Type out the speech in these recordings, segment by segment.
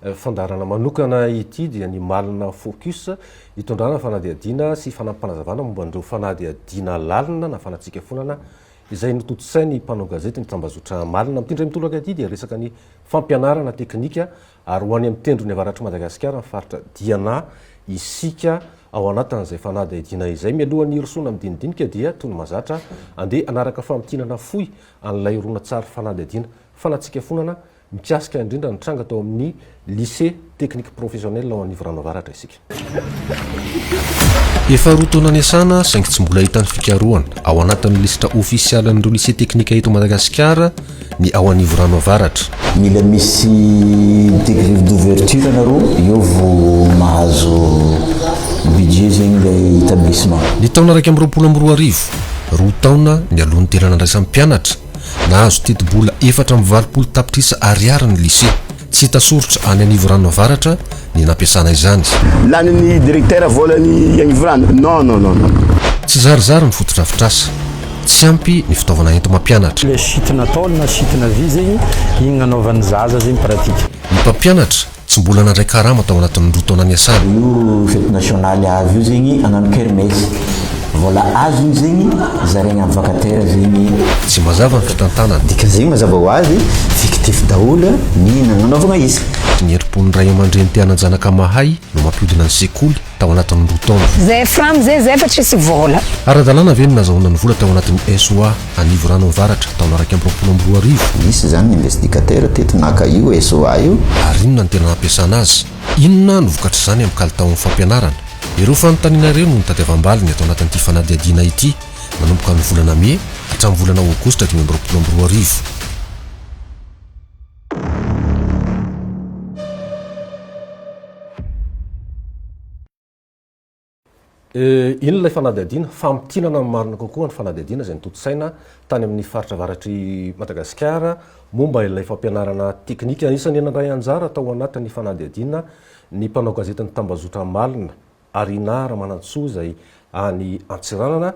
Fandaharana manokana ity dia ny Malina Focus, itondrana fanadihadiana sy fanampim-panazavana momba an'ireo fanadihadiana lalina na fanatsikafonana izay notontosain'ny mpanao gazety ny tambazotra Malina. Amin'ity indray mitolaka ity dia resaka ny fampianarana teknika ary ho any amin'ny tendrony avaratr'i Madagasikara ny faritra Diana isika ao anatin'izay fanadihadiana izay. Mialohan'ny hirosoana amin'ny dinidinika dia toy ny mahazatra andeha hanaraka famintinana fohy an'ilay horonantsary fanadihadiana fanatsikafonana Mikasika indrindra ny tranga tao amin'ny Lycée Technique Professionnel ao Anivorano Avaratra isika. Efa roa taona niasana saingy tsy mbola hita ny fikarohana ao anatin'ny lisitra ofisialin'ireo Lycée Technique eto Madagasikara ny ao Anivorano Avaratra. Mila misy degré d'ouverture nareo eo vo mahazo budget zegny ilay établissement. Ny taona iraika amby roapolo amby roa arivo, roa taona mialoha ny tena nandraisan'ny mpianatra Nahazo tetibola efatra amby valopolo tapitrisa ariary ny Lycée tsy hita soritra any Anivorano Avaratra ny nampiasana izany. Lanin'ny Direktera volan'i Anivorano? Non, non, non, non. Tsy zarizary ny fotodrafitrasa. Tsy ampy ny fitaovana enti-mampianatra. Le site nataony na site na vy zegny, igny nanaovan'ny zaza zegny pratique. Ny mpampianatra Tsy mbola nandray karama tao anatin'ny roa taona niasana. Io fety nasionaly azo io zegny agnano kermesy. Vôla azony zegny zaraigny amin'ny vacataire zegny. Tsy mazava ny fitantanana. Dikany zegny mazava ho azy, fictif daholo ny nagnanaovagna izy. Ny herim-pon'ny ray aman-dreny te hanan-janaka mahay no mampiodina ny sekoly tao anatin'ny roa taona. Zay fram zay zay fa tsisy vôla. Ara-dalàna ve ny nazahoana ny vola tao anatin'ny SOA? Anivo Rano Avaratra, taona iraika amby roapolo amby roa arivo. Nisy izany ny investigatera teto naka io SOA io. Ary inona ny tena hampiasana azy? Inona no vokatr'izany amin'ny kalitaon'ny fampianarana? Ireo fanontaniana ireo no notadiavam-baliny ato anatin'ity fanadihadiana ity, nanomboka ny volana mey hatramin'ny volana aogositra dimy amby roapolo amby roa arivo. Inona ilay fanadihadiana? Famintinana amin'ny marina kokoa ny fanadihadiana izay notontosaina tany amin'ny faritra avaratr'i Madagasikara momba ilay fampianarana teknika. Anisan'ny nandray anjara tao anatin'ny fanadihadiana ny mpanao gazetin'ny tambazotra Amalona, Arina Ramanantsoa izay any Antsiranana.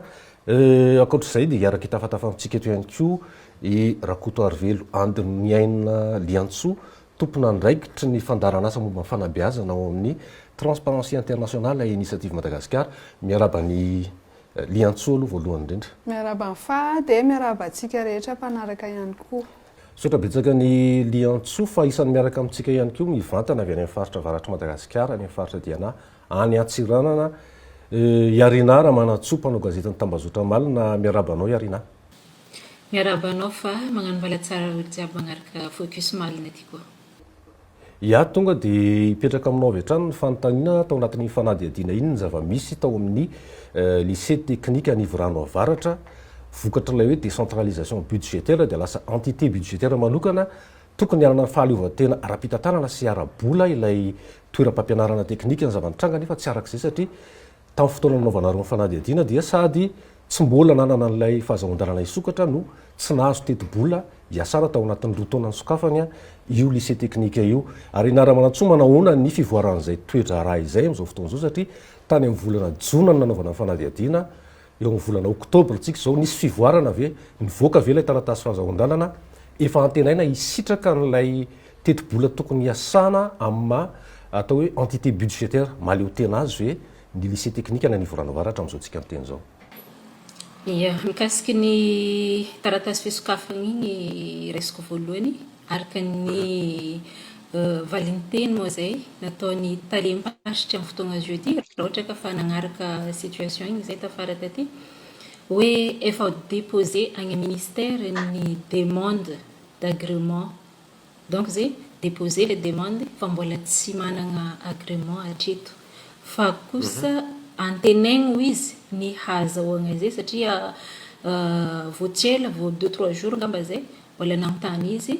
Ankoatra izay dia hiara-kitafatafa amintsika eto ihany koa i Rakotoarivelo Andry Niaina Liantsoa, Tompon'andraikitry ny fandaharan'asa momba ny fanabeazana ao amin'ny Transparency International et Initiative Madagascar, miaraba an'i Liantsoa aloha voalohany indrindra. Miaraba an'i Fa dia miaraba antsika rehetra mpanaraka ihany koa. Misaotra betsaka an'i Liantsoa fa isan'ny miaraka amintsika ihany koa mivantana avy any amin'ny faritra avaratr'i Madagasikara, any amin'ny faritra Diana, any Antsiranana, i Arinà Ramanantsoa, mpanao gazetin'ny Tambazotra Amalona, miaraba anao i Arinà. Miarahaba anao fa magnano mbala tsara olo jiaby magnaraka focus marina ty koa. Iah tonga de hipetraka aminao avy hatrany ny fanontaniana tao anatin'iny fanadihadiana iny ny zava-misy tao amin'ny lycée technique Anivorano Avaratra vokatr'ilay hoe décentralisation budgétaire dia lasa entité budgétaire manokana tokony hanana fahaleovantena ara-pitantanana sy ara-bola ilay toeram-pampianarana teknika ny zava-nitranga nefa tsy arak'izay satria Tamin'ny fotoana nanaovanareo ny fanadihadiana dia sady tsy mbola nanana an'ilay fahazahoan-dalana hisokatra no tsy nahazo tetibola hiasana tao anatin'ny roa taona nisokafany io lycée teknika io. Ary Ramanantsoa manahoana ny fivoaran'izay toe-draharaha izay amin'izao fotoana izao satria tany amin'ny volana jona no nanaovana ny fanadihadiana, eo amin'ny volana oktobra tsika izao, nisy fivoarana ve? Nivoaka ve ilay taratasy fahazahoan-dalana? Efa antenaina hisitraka an'ilay. Tetibola tokony hiasana amin'ny maha atao hoe entité budgétaire mahaleotena azy ve ny lycée technique any Anivorano Avaratra amin'izao tsika miteny izao? Ia. Mikasiky ny taratasy fisokafana iny ny raisiko voalohany araka ny valinteny moa izay nataon'ny talem-paritry amin'ny fotoana zio ity, raha ohatra ka fa nanaraka situation iny izay tafara taty, hoe efa deposer any amin'ny ministère ny demande d'agrément. Donc ze deposer le demande fa mbola tsy managna agrément hatreto fa kosa antenaigny ho izy ny hahazahoagna ze satria vao tsy ela vao deux trois jours ngamba zay mbola nanontany izy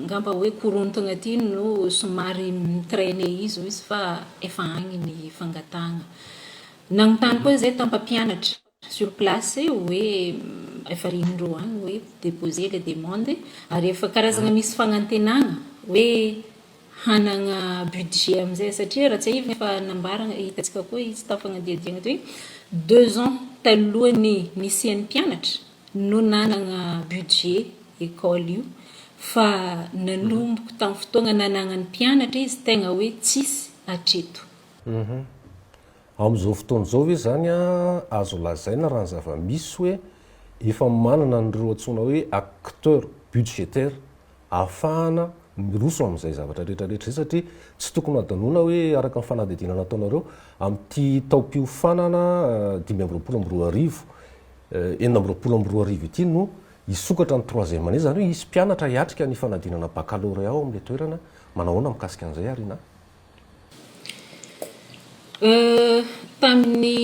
ngamba hoe korontagna aty no somary mi-trainer izy hoy izy fa efa agny ny fangatahagna. Nanontany koa zay tam-pampianatra. sur place hoe efa ry indro any hoe deposer le demande ary efa karazana misy fagnantenagna hoe hanagna budget amizay satria raha tsiahivina efa nambaragna hitantsika koa izy tao fagnadihadiagna teo hoe deux ans talohan'ny nisian'ny mpianatra no nanagna budget école io fa nanomboko tamin'ny fotoagna nanagnan'ny mpianatra izy tegna hoe tsisy hatreto. Amin'izao fotoana izao ve izany azo lazaina raha ny zava-misy hoe efa manana an'ireo antsoina hoe acteurs budgétaires ahafahana miroso amin'izay zavatra rehetra rehetra izay satria tsy tokony hadinoina hoe araka ny fanadihadiana nataonareo amin'ity taom-piofanana dimy amby roapolo amby roa arivo, enina amby roapolo amby roa arivo ity no hisokatra ny troisième année, izany hoe hisy mpianatra hiatrika ny fanadinana baccalauréat ao amin'ilay toerana, manao ahoana mikasika an'izay Arina? Tamin'ny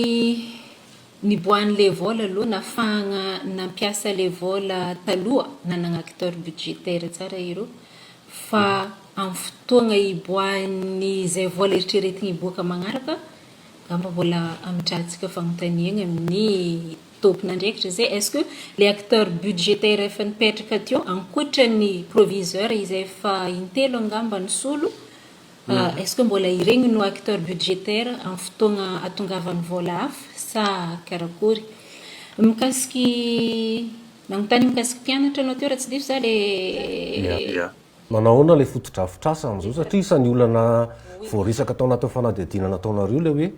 niboahan'ilay vol aloha, nahafahana nampiasa ilay vol taloha nanana acteur budgétaire tsara ireo, fa amin'ny fotoana hiboahan'izay vol eritreretina hiboaka manaraka, angamba mbola hametrahantsika fanontaniana ny tompon'andraikitra izay, est ce que ilay acteur budgétaire efa nipetraka teo ankoatra ny proviseur izay efa intelo angamba nisolo, Est ce que mbola iregny no acteur budgétaire am fotoagna atongavan'ny vôla hafa sa karakory? Mikasiky nagnontany mikasiky mpianatra anao teo raha tsy diso za le. Manao ahoana ilay fotodrafitrasa amin'izao satria isan'ny olana voaresaka tao anatin'ny fanadihadiana nataonareo ilay hoe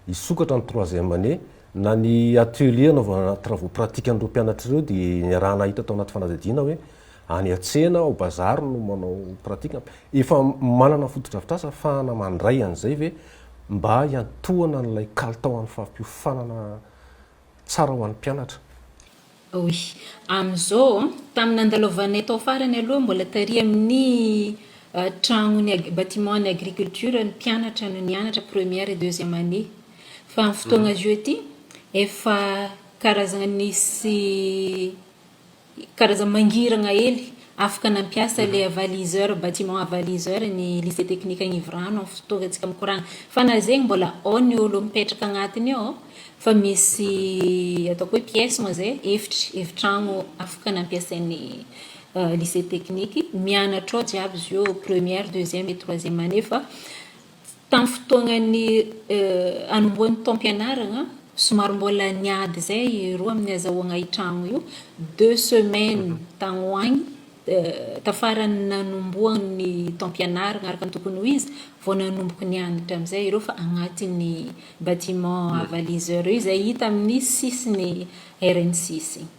hisokatra ny troisième année, na ny atelier hanaovana travaux pratiques an'ireo mpianatra ireo dia niaraha-nahita tao anaty fanadihadiana hoe any an-tsena, ao bazary no manao pratique. Efa manana fotodrafitrasa afahana mandray an'izay ve mba hiantohana an'ilay kalitao an'ny fampiofanana tsara ho an'ny mpianatra? Oui. Amin'izao, tamin'ny nandalovanay tao farany aloha mbola tary amin'ny tragnon'ny ag- bâtiment ny agriculture ny mpianatra no nianatra première et deuxième année. Fa amin'ny fotoana zao ity efa karazana nisy Karazana mangirana hely. Afaka nampiasa ilay avaliseur, bâtiment avaliseur, ny Lycée Technique Agnivorano amin'ny fotoantsika mikoragna. Fa na zegny mbola ao ny olo mipetraka agnatiny ao fa misy ataoko hoe pièce moa zay, efitry, efitragno afaka nampiasain'ny Lycée Technique. Mianatra ao jiaby izy io, première, deuxième et troisième année fa. Tamin'ny fotoanan'ny hanombohan'ny taom-pianarana, somary mbola niady izay roa amin'ny hazahoagna io tragno io. Deux semaines tagny ho agny, tafaran'ny nanombohan'ny taom-pianarana araka ny tokony ho izy vao nanomboka nianatra amin'izay ireo fa agnatin'ny bâtiment avaliseur io izay hita amin'ny sisin'ny RN six igny.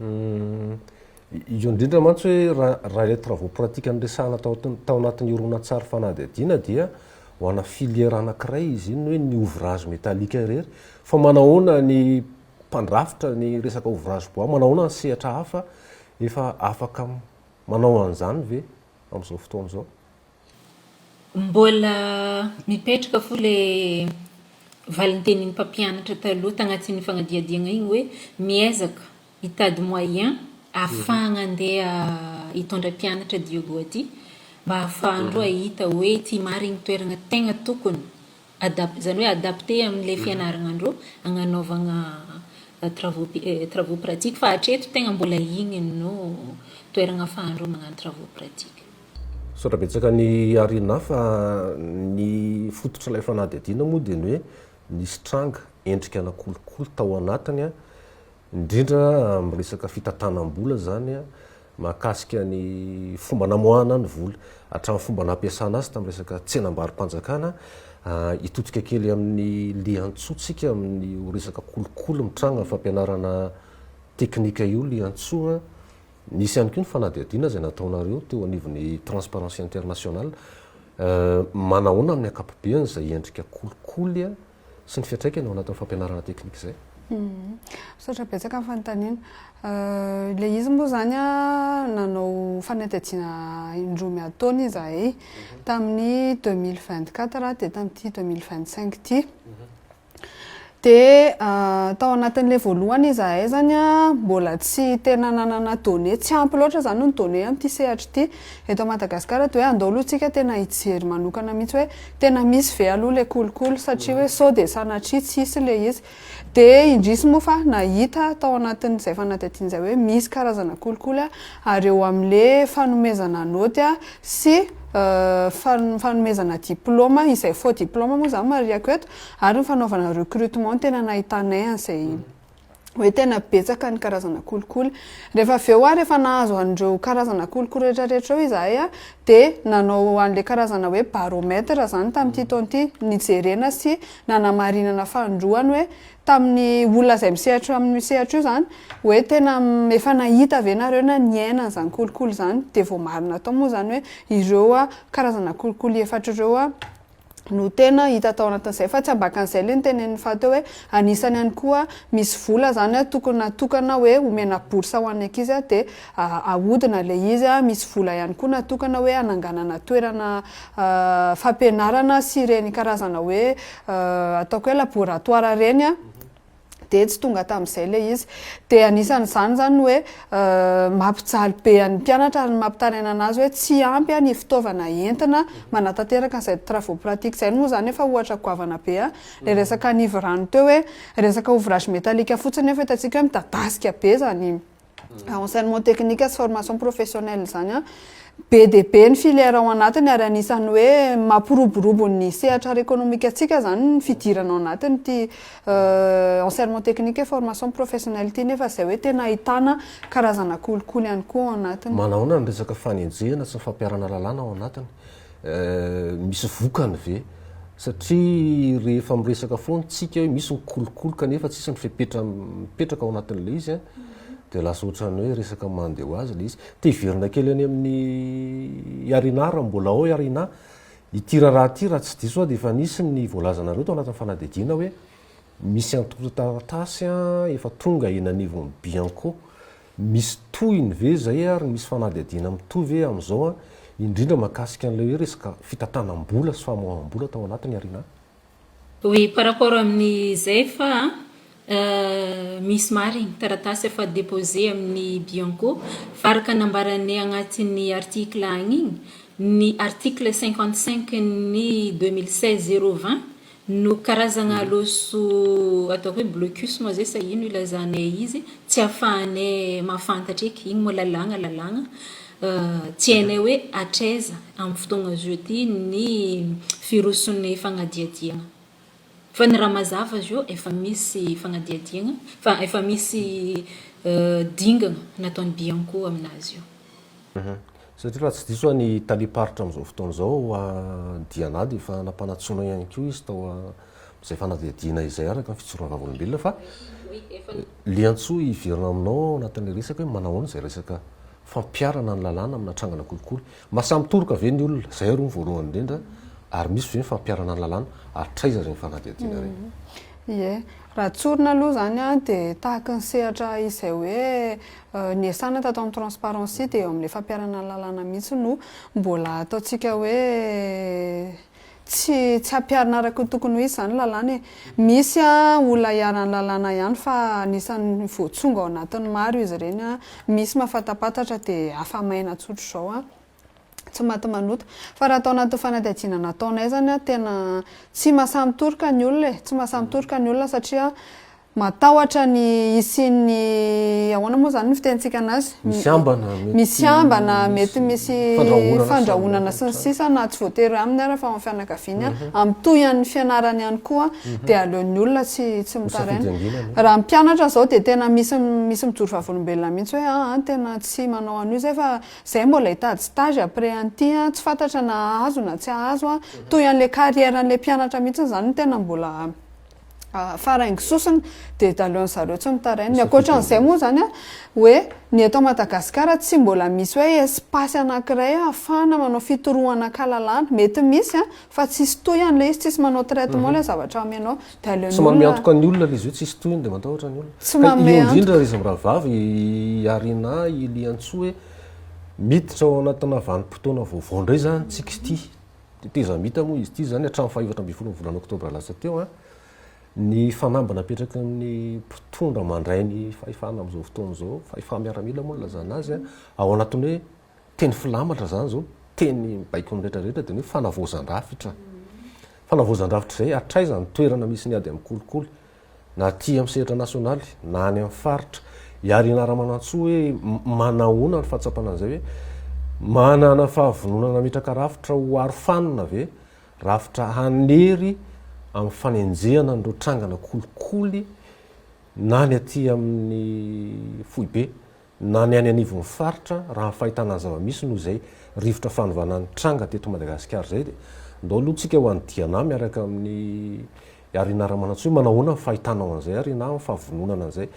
Io indrindra mantsy hoe raha raha ilay travaux pratique niresahana tao tao anatin'ny horonantsary fanadihadiana dia ho ana filière anankiray izy iny hoe ny ouvrage métallique irery fa manahoana ny mpandrafitra ny resaka ouvrage bois manahoana ny sehatra hafa efa afaka manao an'izany ve amin'izao fotoana izao? Mbola mipetraka fo le valintenin'ny mpampianatra taloha tagnatin'ny fanadihadiagna igny hoe miezaka hitady moyen afahagna andeha hitondra mpianatra Diogo aty mba afahandreo ahita hoe ty marigny toeragna tegna tokony Adap, izany hoe adapter amin'ilay fianaragna andreo agnanaovagna travaux pi, travaux pratiques fa hatreto tegna mbola igny no toeragna afahandreo magnano travaux pratiques. Misaotra betsaka an'i Arina fa ny fototr'ilay fanadihadiana moa dia ny hoe nisy tranga endrika ana kolikoly tao anatiny indrindra amin'ny resaka fitantanam-bola izany mahakasika ny fomba namoahana ny vola hatramin'ny fomba nampiasana azy tamin'ny resaka tsenam-barom-panjakana, hitodika kely amin'ny lian-tsoantsika amin'io resaka kolikoly mitranga amin'ny fampianarana teknika io lian-tsoa an, nisy ihany koa ny fanadihadiana izay nataonareo teo anivon'ny Transparency International, manahoana amin'ny ankapobeny izay endrika kolikoly sy ny fiantraikany ao anatin'ny fampianarana teknika izay. Misaotra betsaka amin'ny fanontaniana. Ilay izy moa izany nanao fanadihadiana indroa miantaona izahay tamin'ny 2024 dia tamin'ity 2025 ity. Dia ah, tao anatin'ilay voalohany izahay zany ah, mbola tsy tena nanana données, tsy ampy loatra zany ny données amin'ity sehatra ity. Eto Madagasikara dia hoe andao aloha tsika tena hijery manokana mihitsy hoe tena misy ve aloha ilay kolikoly satria hoe sao dia sanatria tsy hisy ilay izy. Dia indrisy moa fa nahita tao anatin'izay fanadihadiana izay hoe misy karazana kolikoly ary eo amin'ilay fanomezana naoty sy fanomezana diplaoma, izay faux diplaoma moa izany marihiko eto, ary ny fanaovana recrutement no tena nahitanay an'izay. hoe tena betsaka ny karazana kolikoly. Rehefa avy eo ary efa nahazo an'ireo karazana kolikoly rehetra rehetra ireo izahay a, dia nanao an'ilay karazana hoe baromètre izany tamin'ity taona ity, nijerena sy nanamarinana fanindroany hoe tamin'ny olona izay misehatra eo amin'io sehatra io izany hoe tena efa nahita ve nareo na niaina an'izany kolikoly izany, dia voamarina tao moa izany hoe ireo karazana kolikoly efatra ireo no tena hita tao anatin'izay fa tsy ambakan'izay le nitenenin'i Fatou hoe anisany ihany koa misy vola zany tokony natokana hoe omena bourse ho an'ny ankizy de ahodina le izy misy vola ihany koa natokana hoe hananganana toerana fampianarana sy ireny karazana hoe ataoko hoe laboratoire ireny dia tsy tonga tamin'izay ilay izy. Dia anisan'izany izany ny hoe mampijaly be an'ny mpianatra ary ny mampitaraina an'azy hoe tsy ampy ny fitaovana entina manatanteraka an'izay travaux pratiques izay. Moa izany efa ohatra goavana be an! ilay resaka anivo rano teo hoe resaka ouvrage metallique fotsiny nefa hitantsika hoe midadasika be izany Ah, enseignement technique sy formation professionnelle zany a be dia be ny filière ao anatiny ary anisan'ny hoe mampiroborobo ny sehatra ara économique antsika zany ny fidirana ao anatiny ity euh, enseignement technique et formation professionnelle ity nefa izay hoe tena ahitana karazana kolikoly ihany koa ao anatiny. Manahoana ny resaka fanenjehana sy ny fampiharana lalàna ao anatiny? Eh, misy vokany ve? Satria rehefa miresaka foana tsika hoe misy ny kolikoly kanefa tsisy ny fepetra mipetraka ao anatin'ilay izy an, dia lasa ohatran'ny hoe resaka mandeha ho azy ilay izy. Te hiverina kely any amin'ny Iarina raha mbola ao Iarina. Ity raharaha ity raha tsy diso aho dia efa nisy ny voalazanareo tao anatin'ny fanadihadiana hoe misy antontan-taratasy an, efa tonga eny anivon'ny Bianco. Misy tohiny ve izay ary misy fanadihadiana mitohy ve amin'izao an, indrindra mahakasika an'ilay hoe resaka fitantanam-bola sy famoaham-bola tao anatiny ary na. Oui par rapport amin'ny zay fa misy marigny taratasy efa deposer amin'ny bianco fa araka nambaranay agnatin'ny article agny igny, ny article cinquante cinq n'ny deux mille seize zero vingt No karazagna loso atao hoe blocus moa zay sa ino ilazana e izy tsy afahanay mahafantatra eky, igny moa lalàgna lalàgna tsy hainay hoe hatraiza amin'ny fotoagna zao ty ny virosin'ny fagnadihadiagna. Fa ny raha mazava zao efa misy fagnadihadiagna fa efa misy dingana nataon'ny bianco aminazy io. Satria raha tsy diso aho ny talem-paritra amin'izao fotoana izao ao Diana dia efa nampanantsoina ihany koa izy tao amin'izay fanadihadiana izay araka ny fijoroana vavolombelona fa liantsoa hiverina aminao ao anatin'ilay resaka hoe manahoana izay resaka fampiharana ny lalàna amina trangana kolikoly. Mahasahy mitoroka ve ny olona? Izay aloha ny voalohany indrindra ary misy ve ny fampiharana ny lalàna? Hatraiza ireny fanadihadiana ireny? Ie. Raha tsorina aloha izany dia tahaka ny sehatra izay hoe Niasana tato amin'ny Transparency dia eo amin'ilay fampiharana ny lalàna mihitsy no mbola ataontsika hoe tsy tsy ampiharina araka ny tokony ho izy izany lalàna e. Misy olona iharan'ny lalàna ihany fa anisan'ny voatsongo ao anatin'ny maro izy ireny, misy mahafatapatatra dia afa-maina tsotr'izao. tsy maty manota. Fa raha tao anatin'ny fanadihadiana nataonay izany an, tena tsy mahasamitoroka ny olona e, tsy mahasamitoroka ny olona satria matahotra ny hisian'ny, ahoana moa izany no fitenintsika an'azy? Misy ambana, mety Misy ambana, mety misy fandrahonana, fandrahonana sy ny sisa na tsy voatery aminy ara fa ao amin'ny fianakaviany an, amin'ny tohin'ny fianarany ihany koa an, dia aleon'ny olona tsy tsy Ho safidy mitaraina. anginana e. Raha ny mpianatra izao dia tena misy misy mijoro vavolombelona mihitsy hoe aa tena tsy manao an'io izay fa Zay mbola hitady stage après an'ity an, tsy fantatra na hahazo na tsy hahazo an, toy an'ilay carrière an'ilay mpianatra mihitsy izany no tena mbola faraingo sosona dia dahaloan'ny zareo tsy mitaraina, ny ankoatran'izay moa izany an, hoe ny eto Madagasikara tsy mbola misy hoe espace anakiray ahafahana manao fitorohana an-kalalahana, mety misy an, fa tsisy toy an'ilay izy, tsisy manao traitement ilay zavatra amenao. Tsy manome antoka ny olona ilay izy io, tsisy tohiny dia matahotra ny olona. Ka io indrindra ry zamirahavavy, i Arina, i Liantsoa hoe miditra ao anatina vanim-potoana vaovao indray izany isika ity. Tetezamita moa izy ity izany hatramin'ny fahefatra ambin'ny folon'ny volana oktobra lasa teo. Ny fanamby napetraky ny mpitondra mandray ny fahefana amin'izao fotoana izao, fahefana-miaramila moa no ilazana azy, ao anatin'ny hoe. teny filamatra izany izao, teny mibaiko ny rehetra rehetra dia ny hoe fanavaozan-drafitra. Fanavaozan-drafitra izay hatraiza ny toerana misy ny ady amin'ny kolikoly, na aty amin'ny sehatra nasionaly, na any amin'ny faritra. I Harry Naramanantsoa hoe manahoana ny fahatsapana an'izay hoe manana fahavononana hametraka rafitra ho aro fanina ve, rafitra hanery amin'ny fanenjehana an'ireo trangana kolikoly na ny aty amin'ny foibe, na ny any anivon'ny faritra raha ny fahitana ny zava-misy noho izay rivotra fanovana nitranga teto Madagasikara izay dia ndao aloha tsika ho any Diana miaraka amin'ny Harina Ramanantsoa manahoana ny fahitanao an'izay Harina amin'ny fahavononana an'izay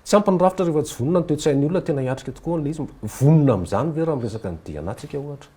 tsy ampy ny rafitra rehefa tsy vonona ny toe-tsain'ny olona tena hiatrika tokoa ilay izy, vonona amin'izany ve raha miresaka ny Diana tsika ohatra?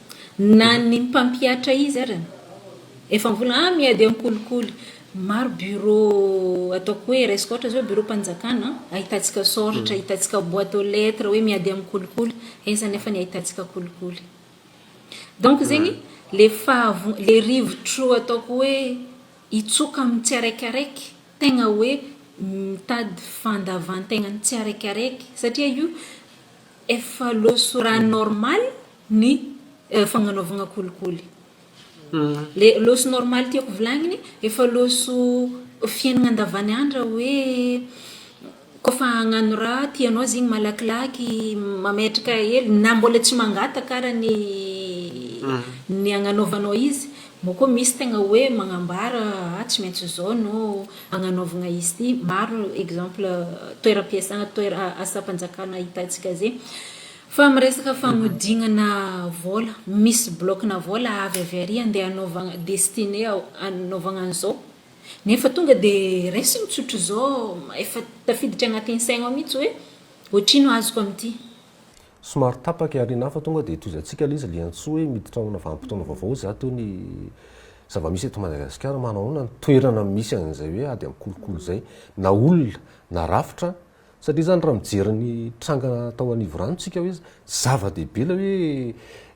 Na ny mpampihatra izy ary efa mivola ah miady amin'ny kolikoly. Maro bureau ataoko hoe raisiko ohatra zao bureau mpanjakana ahitantsika soratra, ahitantsika boite aux lettres hoe miady amin'ny kolikoly, aiza anefa ny ahitantsika kolikoly. Donc zegny le fahavo- le rivotro ataoko hoe hitsoka amin'ny tsiaraikaraiky tegna hoe mitady fandavantegnan'ny tsiaraikaraiky satria io efa loha sy rà normal ny fagnanaovagna kolikoly. Le loso normal tiako volagniny efa loso fiaignana andavaniandra hoe koa fa agnano raha tianao zegny malakilaky mametraka hely na mbola tsy mangataka ara ny ny agnanaovanao izy moa koa misy tegna hoe magnambara ah tsy maintsy zao no agnanaovagna izy ty maro exemple toeram-piasana toera asam-panjakana hitantsika zegny Fa miresaka fagnodignana vôla, misy bloc-na vôla avy avy ary andeha anaovagna destiné ao anaovagna an'izao, nefa tonga de raisiny tsotra zao efa tafiditra agnatin'ny saigna ao mitsy hoe ohatrino azoko amin'ity. Somary tapaka i Arina fa tonga dia tohizantsika ilay izy ilay antsoa hoe miditra ao amina vanim-potoana vaovao za teo ny zava-misy eto Madagasikara manao ahoana ny toerana misy an'izay hoe ady amin'ny kolikoly izay na olona na rafitra Satria izany raha mijery ny tranga tao Anivorano isika hoe zava-dehibe ilay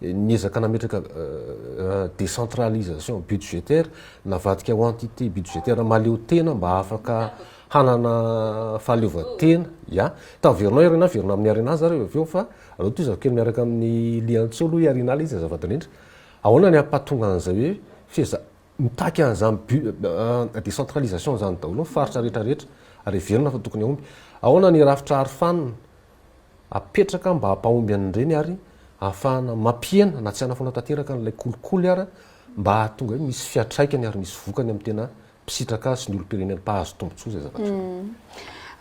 hoe niezaka nametraka décentralisation budgétaire, navadika ho entité budgétaire mahaleotena mba afaka hanana fahaleovantena. Ya, taverinao i Arena, averina amin'i Arena aza ary avy eo fa aleo tohizako kely miaraka amin'i Liantsolo i Arena ilay izy azafady indrindra. Ahoana ny hampahatonga an'izay hoe feheza, Mitaky an'izany but décentralisation izany daholo ny faritra rehetra rehetra ary heverina fa tokony hahomby. Ahoana ny rafitra arofanina apetraka mba hampahomby an'ireny ary hahafahana mampihena na tsy hanafoana tanteraka an'ilay kolikoly ara mba hahatonga hoe misy fiatraikany ary misy vokany amin'ny tena mpisitraka azy sy ny olom-pirenena mpahazo tombotsoa izay zavatra izay.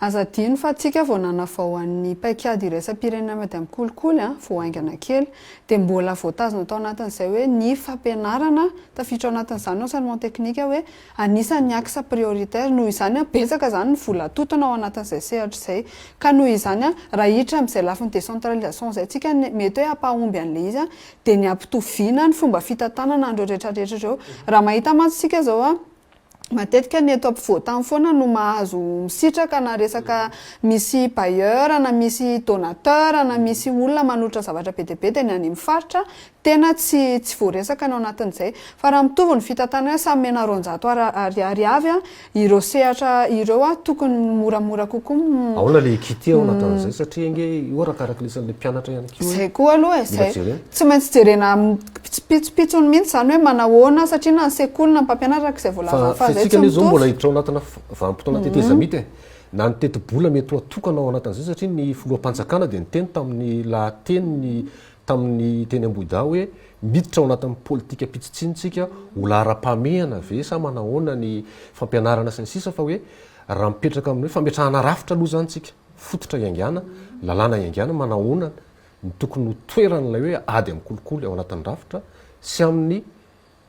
Aza adino fa tsika vao nanavao an'ny paikady iraisam-pirenena Madame Kolikoly a, vao haingana kely, dia mbola voatazona tao anatin'izay hoe ny fampianarana, tafiditra ao anatin'izany ny enseignement technique hoe anisan'ny axe prioritaire, noho izany a, betsaka izany ny vola atotona ao anatin'izay sehatra izay, ka noho izany a, raha hiditra amin'izay lafiny décentralisation izay tsika, ny mety hoe hampahomby an'ilay izy a, dia ny hampitoviana ny fomba fitantanana an'ireo retraretra ireo, raha mahita mantsy tsika izao a, matetika ny eto ampovoan-tany foana no mahazo misitraka na resaka misy bailleur na misy donateur na misy olona manolotra zavatra be dia be dia ny any amin'ny faritra tena tsy tsy voaresaka ny ao anatin'izay fa raha mitovy ny fitantanana hoe samy omena roanjato ar ariary avy ireo sehatra ireo an tokony moramora kokoa Ahoana ilay équité ao anatin'izay satria ange io arakaraka ny isan'ilay mpianatra ihany koa e. Izay koa aloha e, izay tsy maintsy jerena Pitsopitsopitsony mihitsy izany hoe manahoana satria na ny sekoly na ny mpampianatra araka izay voalazan'i Fa izay tsy mitovy. Fa fentsika anie izao mbola hiditra ao anatina vanim-potoana tetezamita e! Na ny tetibola mety ho atokana ao anatin'izay satria ny filoham-panjakana dia niteny tamin'ny lahateniny tamin'ny teny Ambohidahy hoe miditra ao anatin'ny politika pitsitsiny tsika ho laharam-pahamehana ve sa manahoana ny fampianarana sy ny sisa fa hoe raha mipetraka amin'ny hoe fametrahana rafitra aloha izany tsika fototra hiaingàna, lalàna hiaingàna, manahoana ny tokony ho toeran'ilay hoe ady amin'ny kolikoly ao anatin'ny rafitra sy amin'ny,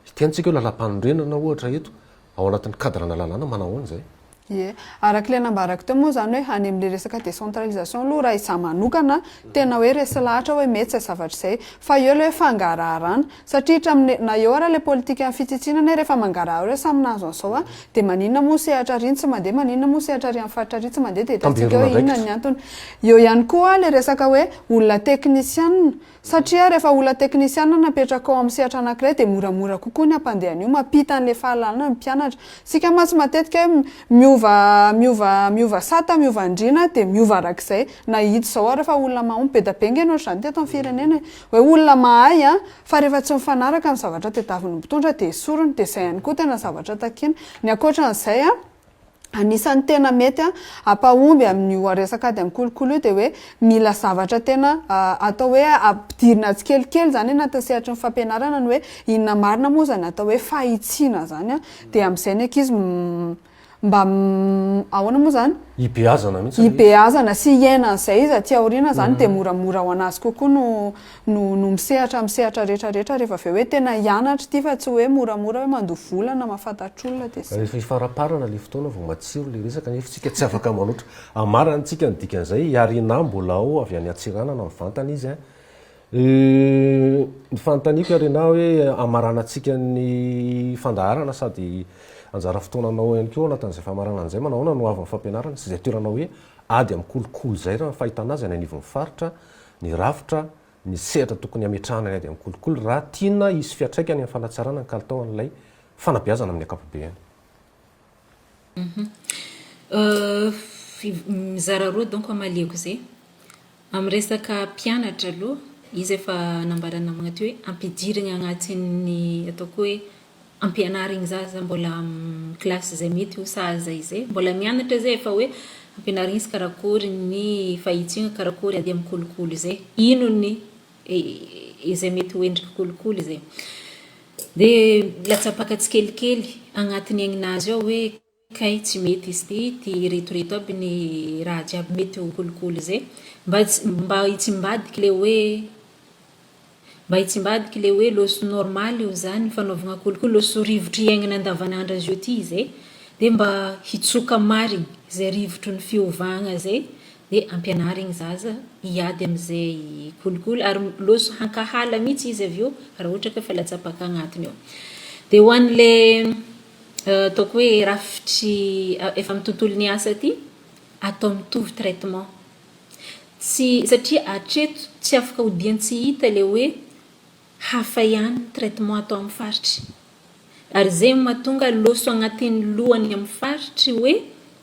hiteny tsika hoe lalam-panorenana ohatra eto, ao anatin'ny cadre-na lalàna, manao ahoana izay? Ie. Araka ilay nambarako teo moa izany hoe any amin'ilay resaka décentralisation aloha raha izaho manokana, tena hoe resy lahatra hoe mety izay zavatra izay. Fa eo ilay hoe fangaraharana. Satria htramine na eo ara le politikan'ny fitsitsiana anie rehefa mangarahara hoe samy nahazo an'izao an, dia maninona moa sehatra ary iny tsy mandeha, maninona moa sehatra ary amin'ny faritra ary tsy mandeha dia hitantsika eo inona ny antony. Eo ihany koa le resaka hoe olona teknisianina, satria rehefa olona teknisianina no apetraka ao amin'ny sehatra anankiray dia moramora kokoa ny hampandeha an'io, mampita an'le fahalalana ny mpianatra. Isika mantsy matetika hoe miova miova miova sata, miova andriana dia miova arak'izay, na ito izao ary fa olona mahomby, be dia be ange ny ohatr'izany teto amin'ny firenena e, Hoe olona mahay an! Fa rehefa tsy mifanaraka ny zavatra tedaviny ny mpitondra dia esoriny, dia izay ihany koa tena zavatra takiany. Ny ankoatran'izay an, anisan'ny tena mety an, hampahomby amin'io resaka ady amin'ny kolikoly io dia hoe mila zavatra tena atao hoe ampidirina tsikelikely izany anatin'ny sehatry ny fampianarana ny hoe inona marina moa izany atao hoe fahitsiana izany an, dia amin'izay ny ankizy Mba ahoana moa izany? Hibeazana mihitsy ilay izy. Hibeazana sy hiaina an'izay izy aty aoriana izany dia moramora ho an'azy kokoa no no no misehatra amin'ny sehatra rehetra rehetra rehefa avy eo hoe tena hianatra ity fa tsy hoe moramora hoe mandoa vola na mahafantatr'olona dia izay. Rehefa hifaramparana ilay fotoana vao matsiro ilay resaka nefa isika tsy afaka manoatra. Hamarantsika ny dikan'izay i Arina mbola ao avy any Antsiranana mivantana izy a! Ny fanontaniako ary anao hoe hamaranantsika ny fandaharana sady anjara fotoananao ihany koa ao anatin'izay famaranana an'izay, manahoana no haavon'ny fampianarana sy izay toerana hoe ady amin'ny kolikoly izay raha ny fahitana azy any anivon'ny faritra, ny rafitra, ny sehatra tokony hametrahana ny ady amin'ny kolikoly raha tiana hisy fiantraikany amin'ny fanatsarana ny kalitaon'ilay fanabeazana amin'ny ankapobeny. Mizara roa donc amaliako izay. Amin'ny resaka mpianatra aloha, izy efa nambaran'ny namana teo hoe ampidirigna agnatin'ny ataoko hoe ampianarigny zaza mbola amin'ny kilasy izay mety ho sahaza izay. Mbola mianatra izay fa hoe ampianarigny izy karakôry ny fahitsiny, karakôry ady amin'ny kolikoly izay. Ino ny izay mety ho endriky kolikoly izay. Dia latsapaka tsikelikely agnatiny aignina azy ao hoe kay tsy mety izy ity, ity iretoreto aby ny raha jiaby mety ho kolikoly izay. Mba mba hitsimbadiky le hoe mba hitsimbadiky le hoe le so normal io zany fanaovagna kolikoly, le so rivotro iaignana andavanandro azy io ty izay, dia mba hitsoka marigny izay rivotro ny fiovagna izay. Dia ampianary ny zaza hiady amin'izay kolikoly ary loso hankahala mihitsy izy avy eo raha ohatra ka efa latsapaka agnatiny ao. Dia ho an'ilay ataoko hoe rafitry efa amin'ny tontolon'ny asa ity, atao mitovy traitement. Tsy, satria hatreto tsy afaka odian-tsy hita ilay hoe, Hafa ihany ny traitement atao amin'ny faritry. Ary izay no mahatonga loso agnatin'ny lohany amin'ny faritry hoe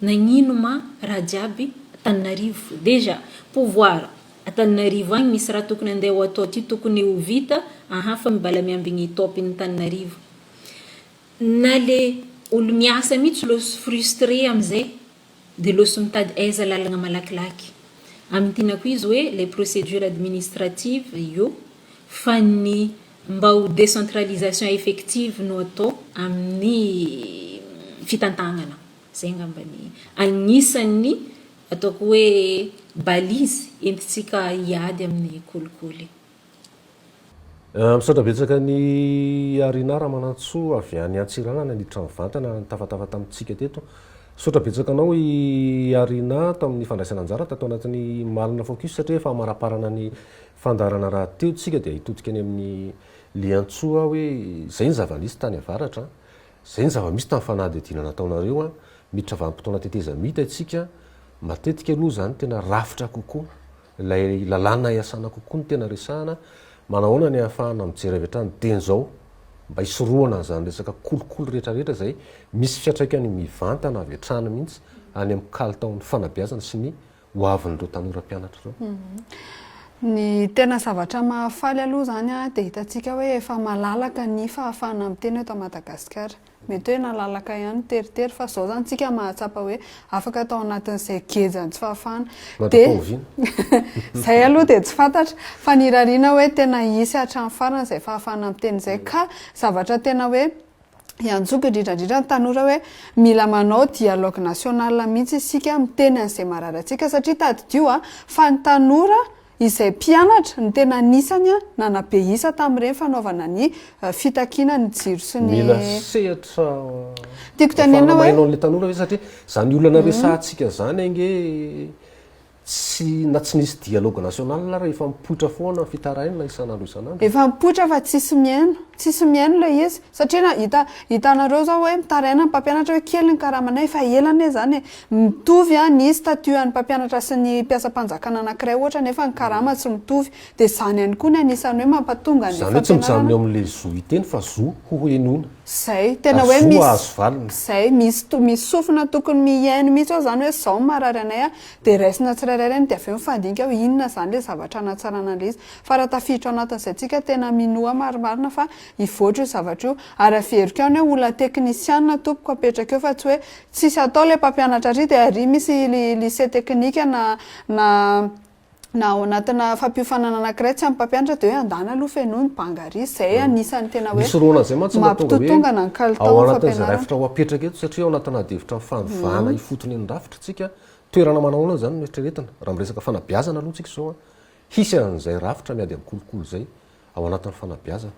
nagnino ma raha jiaby Antananarivo. Déjà, pouvoir Antananarivo agny misy raha tokony andeha ho atao ty tokony ho vita aha fa mibala miambigny top ny Antananarivo. Na le olo miasa mitsy loso frustre amizay Dia loso mitady aiza lalagna malakilaky. Amin'ny tinako izy hoe les procédures administratives io fa ny mba ho décentralisation effective no atao amin'ny fitantagnana. Zay ngamba ny agnisan'ny ataoko hoe balise entintsika hiady amin'ny kolikoly. Misaotra betsaka an'i Arina Ramanantsoa avy any Antsiranana niditra mivantana nitafatafa tamintsika teto. Misaotra betsaka anao i Arina tamin'ny fandraisana anjara tato anatin'ny Malina Focus satria efa hamaraparana ny fandaharana rahateo isika dia hitodika any amin'ny Liantsoa aho hoe izay ny zava-nisy tany avaratra, izay ny zava-misy tamin'ny fanadihadiana nataonareo, miditra vanim-potoana tetezamita isika, matetika aloha izany tena rafitra kokoa. Ilay lalàna iasana kokoa no tena resahana, manahoana ny ahafahana mijery avy hatrany dieny izao mba hisorohana an'izany resaka kolikoly rehetrarehetra izay misy fiantraikany mivantana avy hatrany mihitsy any amin'ny kalitaon'ny fanabeazana sy ny ho avin'ireo tanora mpianatra ireo? Ny tena zavatra mahafaly aloha izany dia hitantsika hoe efa malalaka ny fahafahana miteny eto Madagasikara. Mety hoe nalalaka ihany teritery fa zao zany tsika mahatsapa hoe afaka tao anatin'izay geja ny tsy fahafahana. Dia izay aloha dia tsy fantatra fa ny irariana hoe tena hisy hatramin'ny farany izay fahafahana miteny izay ka zavatra tena hoe iantsoako indrindra indrindra ny tanora hoe mila manao dialogue national mihitsy isika miteny an'izay marary antsika satria tadidio a fa ny tanora Izay mpianatra no tena anisany nanabe isa tamin'ireny fanaovana ny fitakiana ny jiro sy ny. Mila sehatra Tiako tenenina hoe. ahafahana manao an'ilay tanora ve satria izany olana resahantsika izany ange tsy na tsy nisy dialogue national ary efa mipoitra foana fitarainana isan'andro isan'andro e. Efa mipoitra fa tsisy mihaino. Tsisy mihaino ilay izy. Satria na hita hitanareo zao hoe mitaraina ny mpampianatra hoe kely ny karamanay fa ela anie zany e! mitovy ny statut an'ny mpampianatra sy ny mpiasam-panjakana anankiray ohatra nefa ny karama tsy mitovy dia izany ihany koa ny anisan'ny hoe mampatonga ny fampianarana izay tena hoe izay misy sofina tokony mihaino mihitsy hoe izany hoe izao no maharary anay a! dia raisina tsirairay ireny dia avy eo mifandinika hoe inona izany ilay zavatra hanatsarana an'ilay izy fa raha tafiditra ao anatin'izay tsika tena minoa marimarina fa hivoatra io zavatra io ary averiko any hoe olona teknisiana tompoko apetraka eo fa tsy hoe tsisy atao ilay mpampianatra ary dia ary misy lycée teknika na na na ao anatina fampiofanana anakiray tsy ampy mpampianatra dia hoe andany aloha fenoy ny banga ary izay anisany tena hoe mampitotongana ny kalitao ny fampianarana toerana manao ahoana izany no eritreretina raha miresaka fanabeazana aloha tsika izao hisy an'izay rafitra miady amin'ny kolikoly izay ao anatin'ny fanabeazana.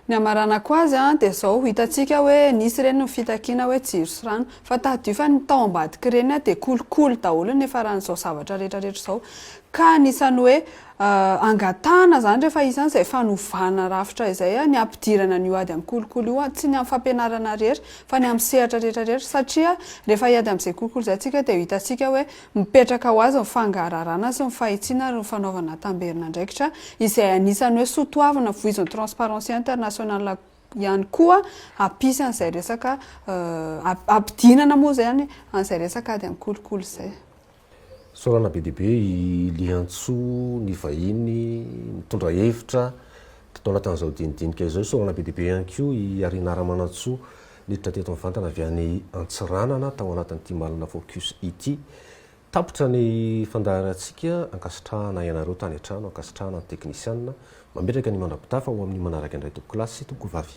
Ny hamaranako azy dia izao, hitantsika hoe nisy ireny ny fitakiana hoe jiro sy rano, fa tadidio fa ny tao ambadik'ireny dia kolikoly daholo ny niafaran'izao zavatra rehetra rehetra izao, ka anisan'ny hoe angatahana izany rehefa isan'ny izay fanovana rafitra izay ny hampidirana an'io ady amin'ny kolikoly io, tsy ny amin'ny fampianarana irery fa ny amin'ny sehatra rehetra rehetra, satria rehefa hiady amin'izay kolikoly izay isika dia hitantsika hoe Mipetraka ho azy ny fangararana sy ny fahitsiana ary ny fanaovana tamberin'andraikitra izay anisan'ny hoe soa toavina voizin'ny Transparency International ihany koa hampisy an'izay resaka hampidinana moa izany an'izay resaka ady amin'ny kolikoly izay. Fisaorana be dia be i Liantsoa ny vahiny mitondra hevitra tao anatin'izao dinidinika izao. Isaorana be dia be ihany koa i Arinara Manantsoa Niditra teto mivantana avy any Antsiranana tao anatin'ity Malina Focus ity. Tapitra ny fandaharantsika, ankasitrahana ianareo tany an-trano, ankasitrahana ny teknisianina. Mametraka ny mandra-pitafa ho amin'ny manaraka indray tompoko lahy sy tompoko vavy.